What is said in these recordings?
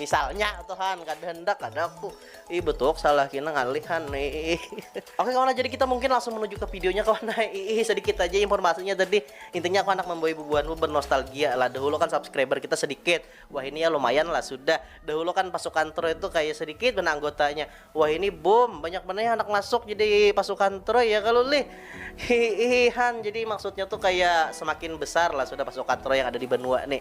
misalnya tuh han kada hendak kada aku ih betul salah kina ngalih han ih oke kawan jadi kita mungkin langsung menuju ke videonya kawan ih sedikit aja informasinya tadi intinya aku anak membawa bubuhanku bernostalgia lah dahulu kan subscriber kita sedikit wah ini ya lumayan lah sudah dahulu kan pasukan Troy itu kayak sedikit benar anggotanya wah ini boom banyak benar anak masuk jadi pasukan Troy ya kalau lih hihihan jadi maksudnya tuh kayak semakin besar lah sudah pasukan Troy yang ada di benua nih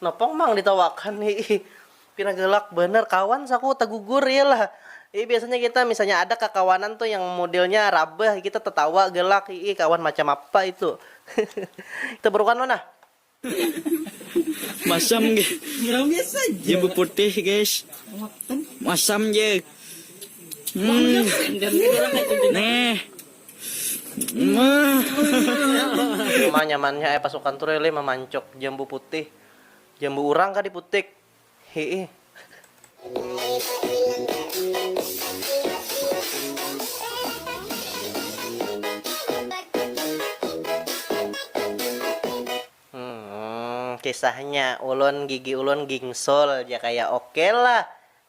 Napang pang ditawakan ni ih. Pina galak banar kawan saku tagugur ya lah. Ih biasanya kita misalnya ada kakawanan tu yang modelnya rabah kita tatawa galak ih kawan macam apa itu. kita barukan lo nah. Masam ge ja beputih guys. Masam ja. Nah. Cuma nyamannya ai pasukan tu rele mamancok jambu putih, jambu urang kah diputik. Hiih. Kisahnya, ulun gigi ulun gingsul ja kaya oke lah.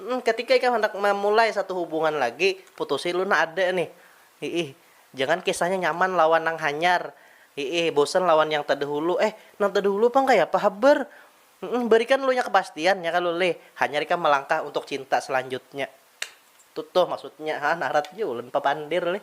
Hm ketika ikam handak mamulai satu hubungan lagi putusi lu nah ada nih hiih jangan kisahnya nyaman lawan nang hanyar hiih bosan lawan yang tadahulu eh nang tadahulu pang kayapa habar hm barikan lu nya kepastian nya kalu lih hanyar ikam malangkah untuk cinta selanjutnya tuh tuh maksudnya ha narat ja ulun papandir lih.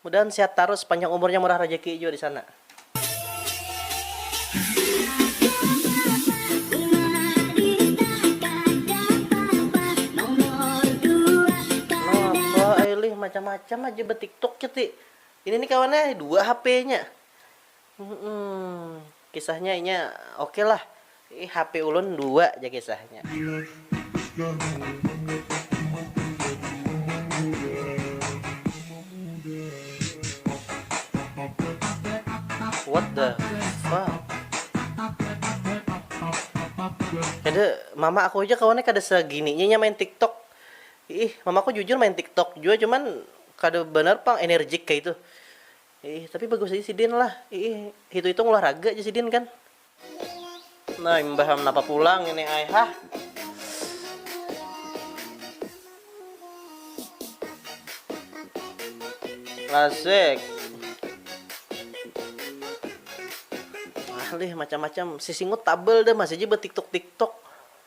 Mudahan sehat tarus panjang umurnya murah rejeki jua disana. Napa ai lih macam macam aja betiktok nya ti. Ini ni kawan ai dua hp nya. Humm kisahnya inya oke lah. Ih hape ulun dua ja kisahnya. What the fuck. Kada mama aku haja kawannya kada sagininya inya main tiktok. Iih mamaku jujur main tiktok jua cuman kada banar pang enerjik kaitu. Iih, tapi bagus aja sidin lah. Iih, hitung-hitung olahraga aja sidin kan. Nah, imbah ham napa pulang ini ai hah. Asik. Alih macam-macam. Sisingut tabel dah masih aja bertiktok-tiktok.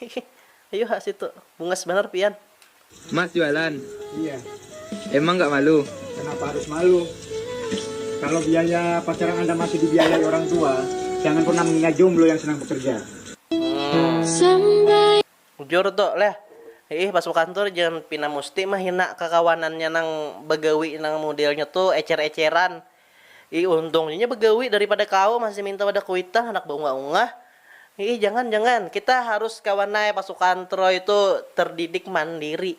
Hihih ayu ha situ bungas banar pian. Mas jualan? Iya. Emang gak malu? Kenapa harus malu? Kalo biaya pacaran anda masih dibiayai orang tua, jangan pernah menghina jomblo yang senang bekerja. Hmm. Bujur tu, leh. Hiih pas buka kantor jangan pina musti mehina kakawanannya nang bagawi nang mudelnya tu ecer-eceran. Ih untung ja inya begawi daripada kawa masih minta wadah kuitan handak baungah-ungah. Iih jangan jangan, kita harus kawan ai pasukan Troy tu terdidik mandiri.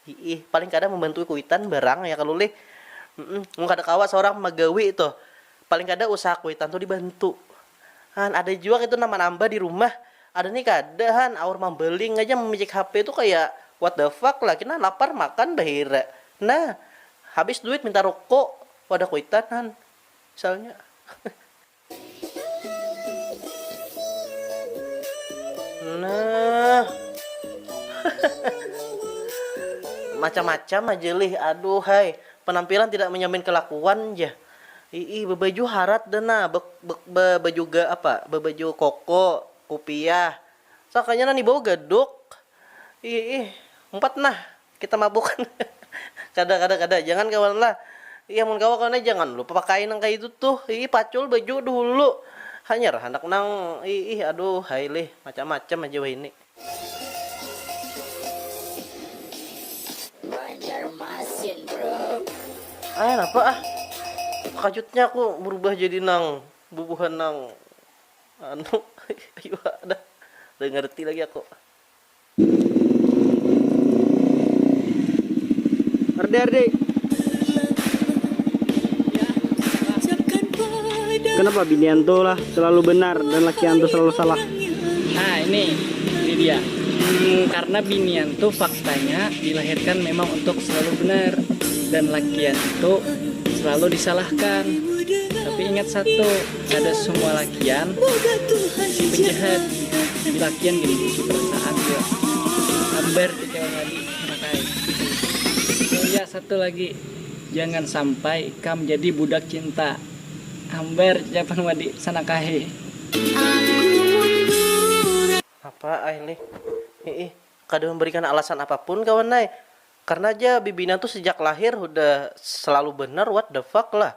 Iih paling kada membantui kuitan barang ya kalu lih. Humm mun kada kawa seorang magawi tuh, paling kada usaha kuitan tu dibantu. Han ada jua kaitu nang manambah di rumah. Ada ni kada han, aur mambaling aja mamicik HP tu kaya what the fuck lah, kina lapar makan bahira. Nah habis duit minta rokok. Wadah kuitan han misalnya. Nah. Macam-macam aja lih, aduhai. Penampilan tidak menjamin kelakuan ja. Iih, bebaju harat dah nah, be, be, be, bejuga apa, bebaju koko, kupiah. Sakanya nang dibawa gadok. Iih, umpat nah. Kita mabuk kada kada kada jangan kawan lah iya mun kawa kawan jangan lupa pakai nang kaya itu tuh ih pacul baju dulu hanyar handak nang iih aduh hai lih macam macam aja wahini. Banjarmasin bro. Ai napa ah takajutnya aku berubah jadi nang bubuhan nang anu ayuha dah kada ngerti lagi aku. Ardi, Ardi. Kenapa binian tuh lah selalu benar dan lakian tuh selalu salah? Nah ini, ini dia. Hmm, karena binian tuh faktanya dilahirkan memang untuk selalu benar dan lakian itu selalu disalahkan. Tapi ingat satu, kada semua lakian si penjahat di lakian gini di perasaan dia ambar tiga kali makai oh ya satu lagi jangan sampai kam jadi budak cinta ambar japan wadi sanakahe apa ai nih hiih kada memberikan alasan apapun kawan ai karena ja bibina tu sejak lahir hudah selalu benar what the fuck lah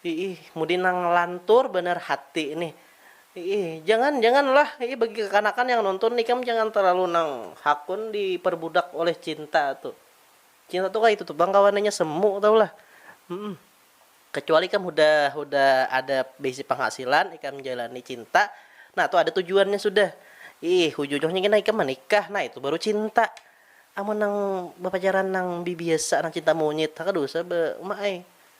Iih, mudi nang lantur banar hati nih. Iih, jangan, jangan lah. Iih, bagi kakanakan yang nonton, ikam jangan terlalu nang hakun diperbudak oleh cinta tu. Cinta tu kaya itu tu pang kawananya, semu tahu lah. Humm. Kecuali ikam hudah, hudah ada beisi penghasilan, ikam jalani cinta, nah tu ada tujuannya sudah. Iih, hujujuhnya gin nah ikam manikah, nah itu baru cinta. Amun nang bapacaran nang bibiasa, nang cinta monyit, haka dusa ba uma ai.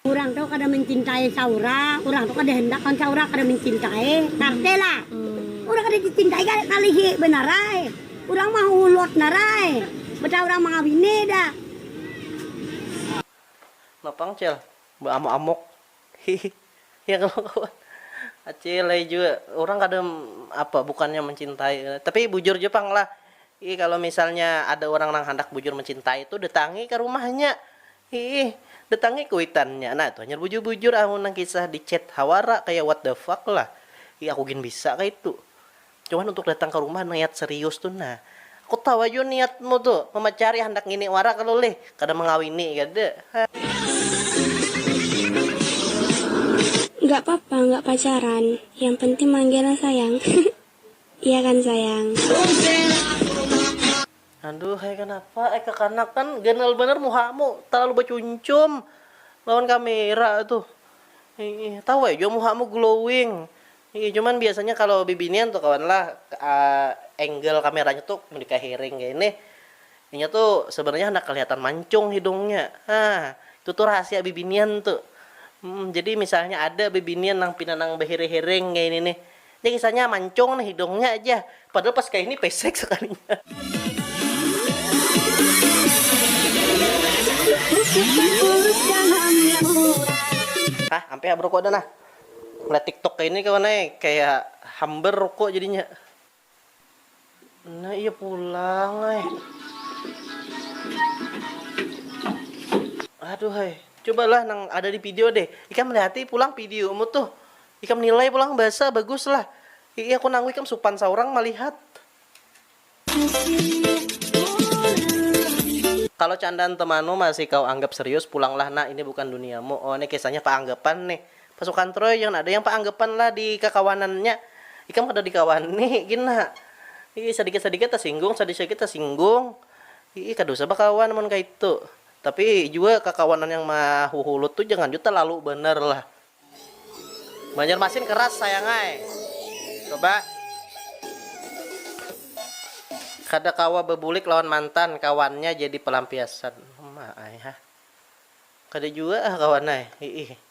Urang tu kada mancintai saurang, urang tu kada handak lawan saurang, kada mancintai, tarteh lah. Urang kada dicintai kada kalihi banar ai, urang mahulut nar ai, betaha urang mangawini dah. Napa pang cel baamuk-amuk hihi ya kalo kawan acil ai jua urang kada apa bukannya mancintai tapi bujur jua pang lah kalo misalnya ada urang nang handak bujur mancintai tu datangi ka rumahnya Hiih, datangi kuitannya nah itu hanyar bujur-bujur amun nang kisah di chat hawara kaya what the fuck lah. Hi aku gin bisa kaitu. Cuman untuk datang ka rumah niat serius tu nah. Aku tawa jua niatmu tu, mamacari handak ngini wara kalo lih, kada mangawini kada. Hahaha. Nggak papa nggak pacaran, yang penting manggil sayang. Iya kan sayang. Aduh ai kanapa ai kakanak kan ganal banar muhamu talalu bacuncum lawan kamera tuh iih tahu ai jua muhamu glowing iih cuman biasanya kalo bibinian tuh kawan lah angle kameranya tuh mun di kahiring kaya nih inya tuh sebenarnya handak kelihatan mancung hidungnya hah itu tuh rahasia bibinian tuh jadi misalnya ada bibinian nang pina nang bahiring-hiring kaya ini nih. Nih kisahnya mancung nih hidungnya aja padahal pas kaini pesek sekalinya. Hah ampe ha beruku ada nah. Melihat tiktok kaini kawan ai kaya hambar ruku jadinya. Nah iya pulang ai. Aduh hai. Cobalah nang ada di video deh. Ikam lihati pulang videomu tuh. Ikam nilai pulang basa bagus lah. Iya aku nanggu ikam supan saurang malihat. Kalo candaan temanu masih kau anggap serius, pulanglah nak, ini bukan duniamu. Oh, ini kisahnya keanggapan nih. Pasukan Troy jangan ada yang paanggapan lah di kakawanan nya ikam kada dikawani gin nah ii sadikit sadikit tasinggung sadikit sadikit tasinggung ii kada usah bakawan amun kaitu tapi jua kakawanan yang mahuhulut tu jangan jua talalu banar lah. Banjarmasin keras sayang ai coba kada kawa babulik lawan mantan kawannya jadi palampiasan uma ai ha kada jua ah kawan ai ii.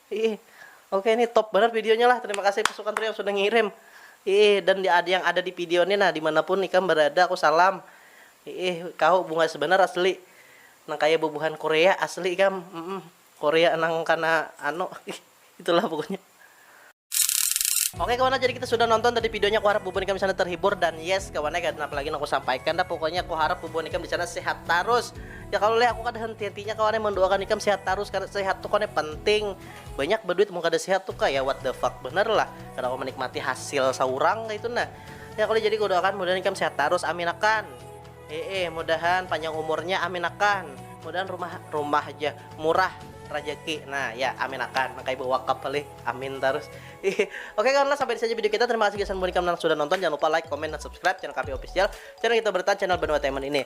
Iih oke ini top banar videonya lah terima kasih pasukan trio yang sudah ngirim iih dan di yang ada di video ini nah dimanapun ikam berada aku salam iih kau bunga sebenar asli nang kaya bubuhan Korea asli ikam mm Korea nang kana anu itulah pokoknya Oke kawan jadi kita sudah nonton tadi videonya aku harap bubuhan ikam di sana terhibur dan yes kawan ya apalagi aku sampaikan dah pokoknya aku harap bubuhan ikam di sana sehat terus Ya kalu leh aku kada henti hentinya kawan ai mandoakan ikam sehat tarus kada sehat tu kawan ai penting banyak baduit mun kada sehat tu kaya what the fuck banar lah kada kawa manikmati hasil saurang kaitu nah ya kalu jadi kudoakan mudahan ikam sehat tarus amin akan ee mudahan panjang umurnya amin akan mudahan rumah rumah ja murah rajaki nah ya amin akan nang kaya bawakap halih amin tarus hihi oke kawan lah sampai disini aja video kita terima kasih gasan mun ikam nang sudah nonton jangan lupa like comment dan subscribe channel kami official channel kita bertahan channel banua taiman ini.